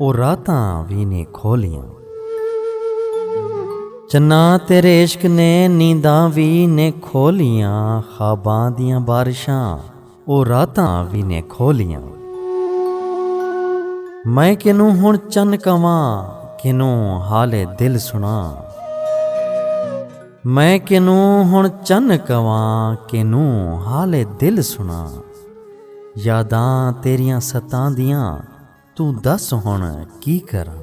او راتاں وی نی کھولیاں۔ چناں تیرے عشق نے نینداں وی نی کھولیاں۔ خواباں دیاں بارشاں او راتاں وی نی کھولیاں۔ میں کنوں ہن چن کہواں کنوں حال دل سناں۔ میں کنوں ہن چن کہواں کنوں حال دل سناں۔ یاداں تیریاں ستاندیاں۔ توں دس ہن کی کراں۔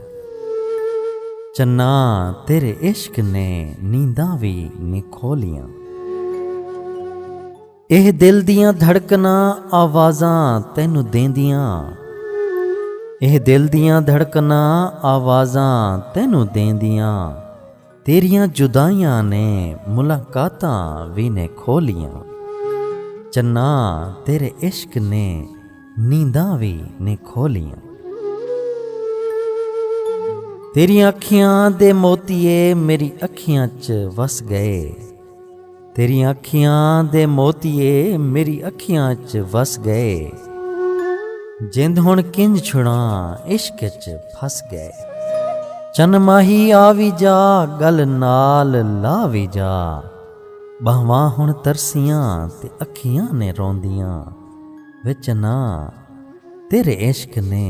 چناں تیرے عشق نے نینداں وی نی کھولیاں۔ ایہ دل دیاں دھڑکناں آوازاں تینوں دیندیاں۔ ایہ دل دیاں دھڑکناں آوازاں تینوں دیندیاں۔ تیریاں جدائیاں نے ملاقاتاں وی نے کھولیاں چنا تیرے عشق نے نینداں وی نے کھولیاں تیریاں اکھیاں دے موتیے میری اکھیاں چ وس گئے۔ تیری اکھیاں دے موتیے میری اکھیاں چ وس گئے جند ہن کنج چھڑاں عشق چ پھس گئے چن ماہی آ وی جا گل نال لا وی جا بہواں ہن ترسیاں تے اکھیاں نے روندیاں وچ ناں تیرے عشق نے